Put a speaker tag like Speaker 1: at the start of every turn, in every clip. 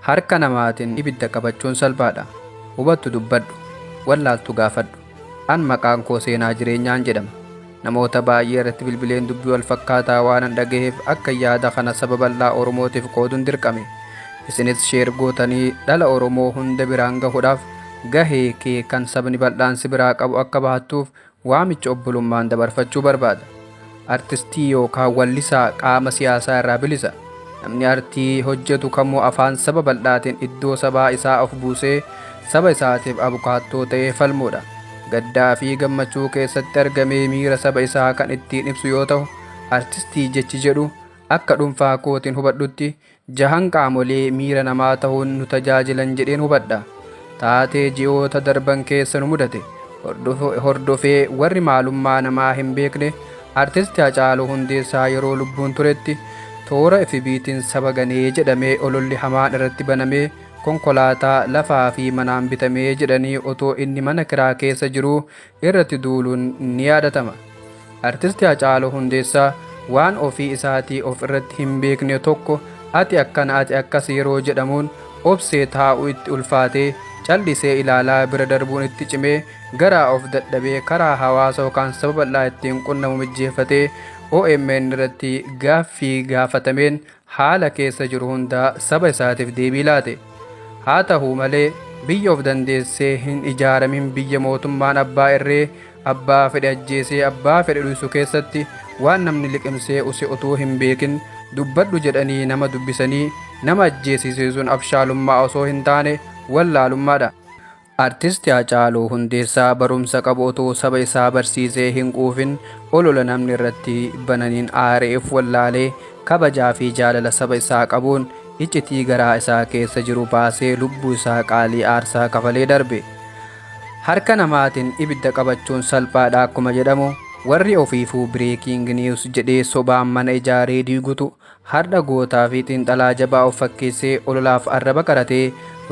Speaker 1: Harka namaatiin ibidda qabachuun salphaadha. Hubattu dubbadhu, wallaaltu gaafadhu. An maqaan koo Seenaa Jireenyaan jedhama. Namoota baay'ee irratti bilbileen dubbii wal fakkaataa waanan dhagaheef akka yaada kana saba bal'aa Oromootiif qoodun dirqame. Isinis sheer gootanii dhala Oromoo hunda biraan gahuudhaaf gahee kee kan sabni bal'aan si biraa qabu akka bahattuuf Waamicha obbolummaan dabarfachuu barbaada. Artistii yookaan wallisaa qaama siyaasaa irraa bilisa. Namni artii hojjetu kamuu afaan saba bal'aatiin iddoo sabaa isaa of buusee saba isaatiif abukaattoo ta'ee falmuudha. Gaddaa fi gammachuu keessatti argamee miira saba isaa kan ittiin ibsu yoo ta'u, artistii jechi jedhu akka dhunfaa kootiin hubadhutti jahan qaamolee miira namaa tahuun nu tajaajilan jedheen hubadha. Taatee ji'oota darban keessa nu mudate hordofee warri maalummaa namaa hin beekne Artisti Hacaaluu Hundeessaa yeroo lubbuun turetti toora FBtiin saba ganee jedhamee ololli hamaan irratti banamee konkolaataa, lafaa fi manaan bitamee jedhanii otoo inni mana kiraa keessa jiruu irratti duuluun ni yaadatama. Artisti Hacaaluu Hundeessaa waan ofii isaatii of irratti hin beekne tokko ati akkana ati akkas yeroo jedhamuun obsee taa'uu itti ulfaatee callisee ilaalaa bira darbuun itti cimee garaa of dadhabee karaa hawaasa yookaan saba bal'aa ittiin qunnamu mijjeeffatee omn irratti gaaffii gaafatameen haala keessa jiru hundaa saba isaatiif deebii laate. Haa tahu malee biyya of dandeessee hin ijaaramin biyya mootummaan abbaa irree abbaa fedhe ajjeesee abbaa fedhe dhuysu keessatti waan namni liqimsee use utuu hin beekin dubbadhu jedhanii nama dubbisanii nama ajjeesisiisuun abshaalummaa osoo hin taane wallaalummaadha. Artisti Hacaaluu Hundeessaa barumsa qabu otoo saba isaa barsiisee hin quufin olola namni irratti bananiin aaree of wallaalee kabajaa fi jaalala saba isaa qabuun iccitii garaa isaa keessa jiru baasee lubbuu isaa qaalii aarsaa kafalee darbe. Harka namaatiin ibidda qabachuun salphaadha akkuma jedhamu warri ofiifuu breaking news jedhee sobaan mana ijaaree diigutu Hardha gootaa fi xiinxalaa jabaa of fakkeessee ololaaf arraba qaratee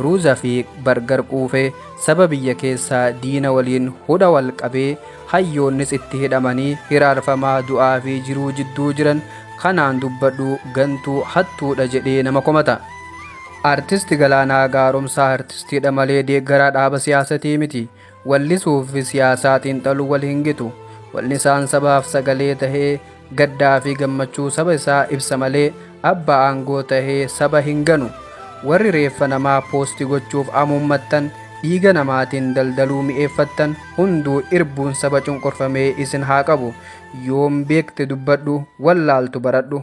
Speaker 1: ruuza fi bargar quufe saba biyya keessaa diina waliin hudha wal qabee hayyoonnis itti hidhamanii hiraarfamaa du'aa fi jiruu jidduu jiran kanaan dubbadhu gantuu hattuudha jedhee nama komata. Artist Galaanaa Gaaromsaa artistiidha malee deeggaraa dhaaba siyaasatii miti. Wallisuufi siyaasaa xiinxaluu wal hin gitu. Wallisaan sabaaf sagalee tahee gaddaafi gammachuu saba isaa ibsa malee abbaa aangoo tahee saba hin ganu. Warri reeffa namaa posti gochuuf amuummattan, dhiiga namaatiin daldaluu mi'eeffattan hunduu irbuun saba cunqurfamee isin haa qabu. Yoom beekte dubbadhu, wallaaltu baradhu.